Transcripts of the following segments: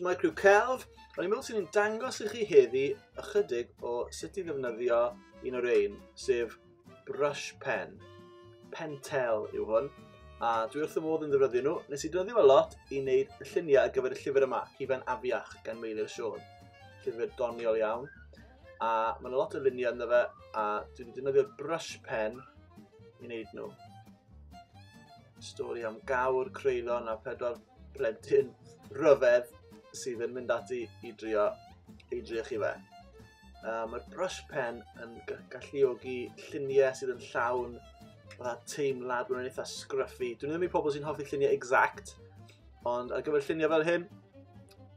Mae Crew Celf, Rwy'n meddwl sy'n dangos i chi heddi ychydig o sut i ddefnyddio un o'r ein, sef brush pen. Pentel yw hwn, a dwi wrth y modd yn ddefnyddio nhw. Nes i ddefnyddio fe lot i wneud y lluniau ar gyfer y llyfr yma, Hufen Afiach, gan Meilir Siôn. Llyfr doniol iawn. a mae yna lot o luniau ynddo fe, a dwi wedi defnyddio brush pen i wneud nhw. Stori am gawr, creulon a pedwar plentyn rhyfedd sydd yn mynd ati i drio, i drio chi fe. Uh, Mae'r brush pen yn galluogi lluniau sydd yn llawn fatha teimlad, mae'n eitha scruffy. Dwi'n ddim i pobl sy'n hoffi lluniau exact, ond ar gyfer lluniau fel hyn,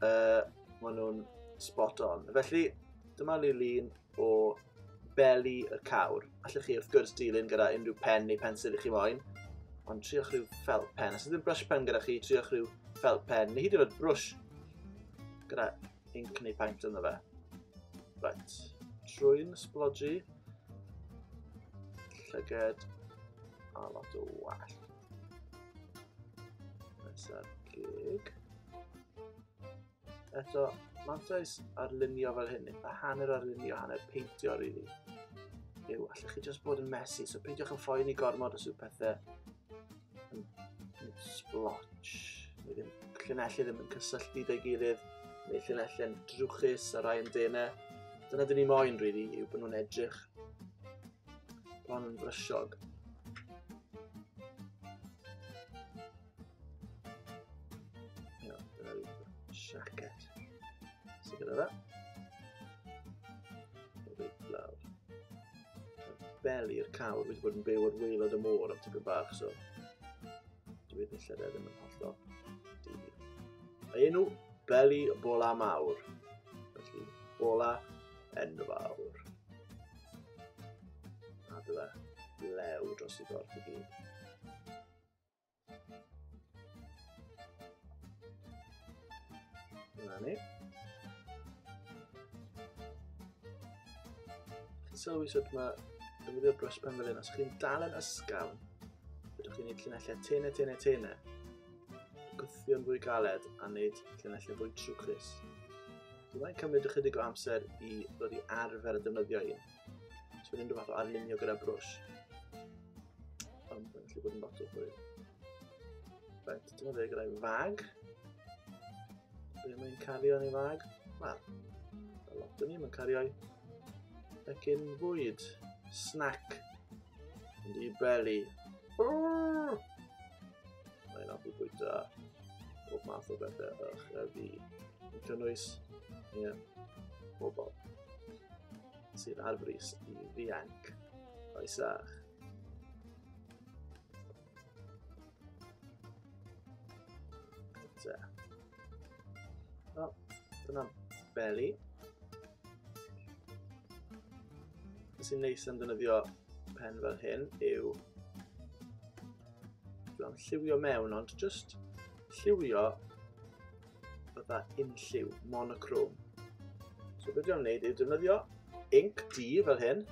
uh, Maen nhw'n spot on. Felly, dyma lilyn o beli y cawr. Allwch chi wrth gwrs dilyn gyda unrhyw pen neu pensil i chi moyn, ond triwch rhyw felt pen. Os ydym brush pen gyda chi, triwch rhyw felt pen, neu hyd yn oed brush gyda inc neu paint ynddo fe. Right, trwy'n sblodju, llyged a lot o wallt. Nesaf gig. Eto, mantais ar lunio fel hyn, a hanner ar lunio, hanner peintio rili. Really. Yw, allwch chi just bod yn messy, so peidiwch yn ffoi ni gormod os yw pethau yn, yn splotch. Neu ddim, llunelli ddim yn cysylltu dy gilydd, neu llunelli yn drwchus ar rai yn denau. Dyna dyn ni moyn, rili, really, yw bod nhw'n edrych bron yn frysiog. Iawn, dyna fi siacet. Sy'n gyda fe. O beth blawd. Beli'r cawr wedi bod yn byw ar weilod y môr am tipyn bach, so... Dwi wedi lle ddim yn hollol. Mae enw Beli Bola Mawr. Felly, Bola Enfawr. A dyna lew dros i gorff i gyd. Dyna ni. Chi'n sylwi sut mae defnyddio brwsh pen fel hyn, os chi'n dal yn ysgawn, byddwch chi'n gwneud llinellau tene, tene, tene, gwthio'n fwy galed a wneud llinellau fwy trwchus. Dwi'n cymryd ychydig o amser i ddod i arfer y defnyddio un. Os mae'n unrhyw fath o arlunio gyda brwys. Ond mae'n gallu bod yn lot o hwyl. Rhaid, dyma fe gyda'i fag. Be mae'n cario yn ei fag? Wel, a lot o ni, mae'n cario'i fecyn fwyd. Snack. Yn ei beli. Brrr! Mae'n offi bwyta bob math o bethau o'ch a fi. Yn cynnwys, ie, yeah, bobl. sydd ar frys i ddianc. Croesach. Te. O, dyna beli. Beth sy'n neis am ddynyddio pen fel hyn yw bron lliwio mewn, ond just lliwio fatha unlliw, monochrome. So beth dwi'n gwneud yw defnyddio inc D fel hyn,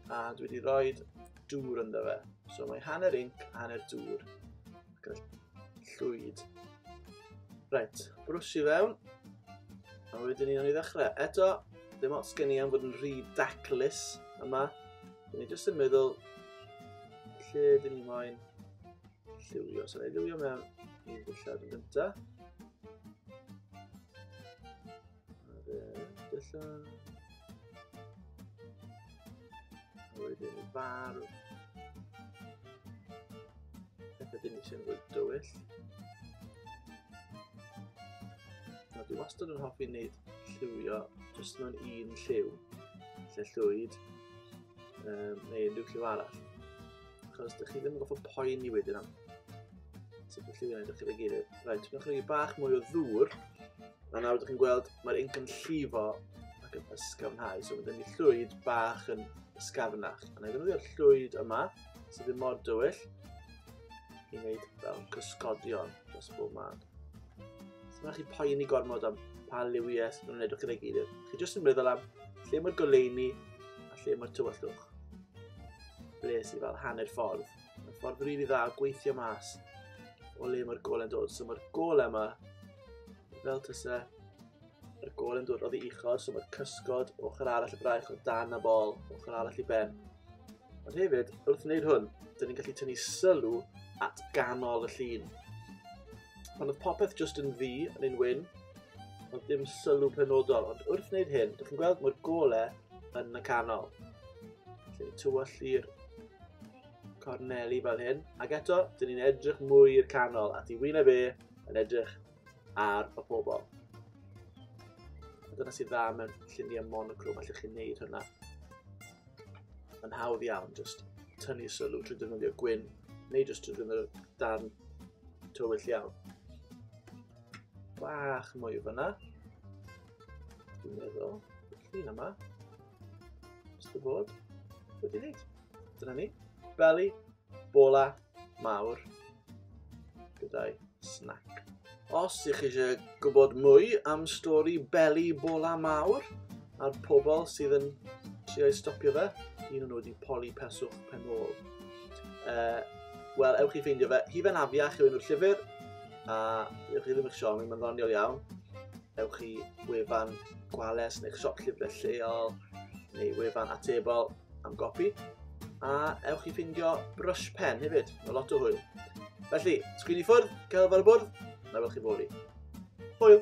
a dwi wedi rhoi dŵr ynddo fe. So mae hanner inc, hanner dŵr, gyda llwyd. Reit, brwsio fewn, a wedyn ni'n ei ddechrau. Eto, ddim ots gen i am fod yn rhy daclus yma. Dyn ni jyst yn meddwl lle dyn ni moyn Liwio, so ei liwio mewn un dillad yn gyntaf. A fe dillad. A wedyn y bar. Ac ydyn ni sy'n fwy dywyll. A dwi wastad yn hoffi wneud lliwio jyst mewn un lliw, lle llwyd, um, neu unrhyw lliw arall. Achos dych chi ddim yn goffa poen i wedyn am. Ti'n gallu gwneud o'ch chi'n gilydd. Rhaid, ti'n gallu bach mwy o ddŵr. A nawr dych chi'n gweld mae'r inc yn llifo ac yn ysgafnhau. So mae gen i llwyd bach yn ysgafnach. A na i ddefnyddio'r llwyd yma, sydd ddim mor dywyll, i wneud fel cysgodion dros bob man. So mae chi poeni gormod am pa liwiau sydd yn edrych yn ei gilydd. Chi jyst yn meddwl am lle mae'r goleini a lle mae'r tywyllwch. Bles i fel hanner ffordd. Mae'n ffordd rili dda o gweithio mas o le mae'r gol yn dod. So mae'r gol yma, fel tysa yr gol yn dod oddi uchod, so mae'r cysgod ochr arall y braich o dan y bol, ochr arall i ben. Ond hefyd, wrth wneud hwn, dyn ni'n gallu tynnu sylw at ganol y llun. Pan oedd popeth just yn ddi yn ein wyn, ond dim sylw penodol, ond wrth wneud hyn, dych chi'n gweld mae'r golau yn y canol. Felly tywall i'r corneli fel hyn. Ac eto, dyn ni'n edrych mwy i'r canol a ti wyneb e yn edrych ar y pobol. Dyna sydd dda mewn lluniau monocrom, allwch chi'n neud hynna. Mae'n hawdd iawn, just tynnu sylw trwy ddefnyddio gwyn, neu just trwy ddefnyddio darn tywyll iawn. Bach mwy o fyna. Dwi'n meddwl, y llun yma. Just y bod. Wedi wneud. Dyna ni. Beli, bola, mawr. Gyda'i snack. Os ych chi eisiau gwybod mwy am stori Beli Bola Mawr a'r pobl sydd yn trio i stopio fe, un o'n nhw wedi poli peswch pen ôl. Uh, Wel, ewch i ffeindio fe. Hi fe'n afiach yw enw'r llyfr, a ewch i ddim eich siom, mae'n ddoniol iawn. ewch i wefan gwales neu'ch siop llyfrau lleol neu wefan atebol am gopi. A ewch i ffindio brush pen hefyd, mae lot o hwyl. Felly, sgwini ffwrdd, cael fel y bwrdd, na fel chi foli. Hwyl!